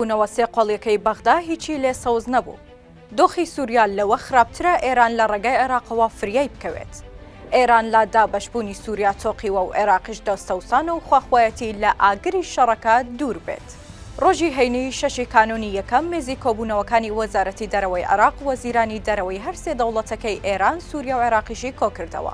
بوونەوە سێ قۆڵیەکەی بەغدا هیچی لێ سەوز نەبوو دۆخی سوریا لەوە خراپترە ئێران لە ڕێگای عێراقەوە فریای بکەوێت ئێران لا دابەش بوونی سوریا تۆقیوە و عێراقیش دەستەوسان و خواخوایەتی لە ئاگری شەڕەکە دوور بێت ڕۆژی هەینی شەشی کانوونی یەکەم مێزی کۆبوونەوەکانی وەزارەتی دەرەوەی عێراق وەزیرانی دەرەوەی هەر سێ دەوڵەتەکەی ئێران سوریا و عێراقیشی کۆکردەوە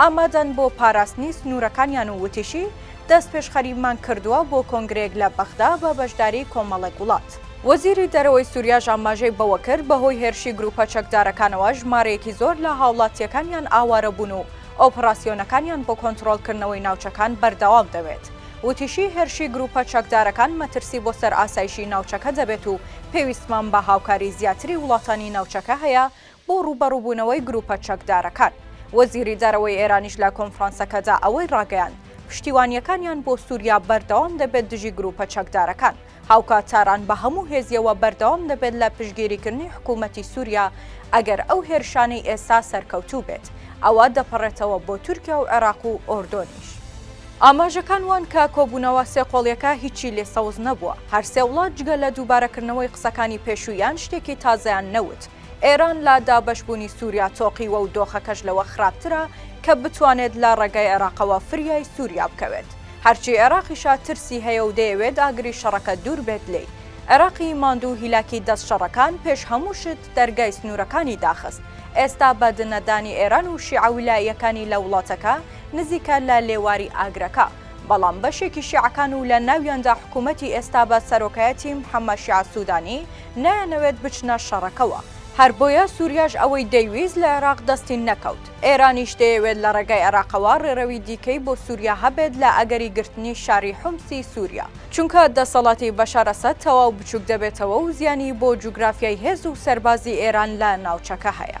ئامادەن بۆ پاراستنی سنوورەکانیان و وتیشی، دەستپێشخەریمان کردووە بۆ کۆنگرەیەک لە بەغدا بە بەشداریی کۆمەڵێک وڵات. وەزیری دەرەوەی سووریاش ئاماژەی بەوە کرد، بەهۆی هێرشی گرووپە چەکدارەکانەوە ژمارەیەکی زۆر لە هاوڵاتییەکانیان ئاوارە بوون و ئۆپڕاسیۆنەکانیان بۆ کۆنتڕۆڵکردنەوەی ناوچەکان بەردەوام دەوێت. وتیشی، هێرشی گرووپە چەکدارەکان مەترسی بۆ سەر ئاسایشی ناوچەکە دەبێت و پێویستمان بە هاوکاریی زیاتری وڵاتانی ناوچەکە هەیە بۆ ڕووبەڕووبوونەوەی گرووپە چەکدارەکان. وەزیری دەرەوەی ئێرانیش لە کۆنفرانسەکەدا ئەوەی ڕاگەیاند، پشتیوانییەکانیان بۆ سووریا بەردەوام دەبێت دژی گرووپە چەکدارەکان، هاوکات تاران بە هەموو هێزییەوە بەردەوام دەبێت لە پشتگیریکردنی حکوومەتی سووریا ئەگەر ئەو هێرشانەی ئێستا سەرکەوتوو بێت ئەوا دەپەڕێتەوە بۆ تورکیا و عێراق و ئۆردۆنیش. ئاماژەکان وان کە کۆبوونەوە سێ قۆڵییەکە هیچی لێ سەوز نەبووە، هەر سێ وڵات جگە لە دووبارەکردنەوەی قسەکانی پێشوویان شتێکی تازەیان نەوت، ئێران لە دابەشبوونی سووریا تۆقیوە و دۆخەکەش لەوە خراپترە کە بتوانێت لە ڕێگای عێراقەوە فریای سووریا بکەوێت. هەرچی عێراقیشە ترسی هەیە و دەیەوێت ئاگری شەڕەکە دوور بێت لێی. عێراقی ماندوو هیلاکی دەست شەڕەکان پێش هەموو شت دەرگای سنوورەکانی داخست. ئێستا بە دنەدانی ئێران و شیعە ولائیەکانی لە وڵاتەکە نزیکە لە لێواری ئاگرەکە. بەڵام بەشێکی شیعەکان و لە ناویاندا حکوومەتی ئێستا بە سەرۆکایەتی محەممەد شیاع سوودانی نایانەوێت بچنە شەڕەکەوە، هەر بۆیە سووریاش ئەوەی دەیویست لە عێراق دەستی نەکەوت، ئێرانیش دەیەوێت لە ڕێگای عێراقەوە ڕێڕەوی دیکەی بۆ سووریا هەبێت لە ئەگەری گرتنی شاری حومسی سووریا، چونکە دەسەڵاتی بەشار ئەسەد تەواو بچووک دەبێتەوە و زیانی بۆ جوگرافیای هێز و سەربازی ئێران لە ناوچەکە هەیە.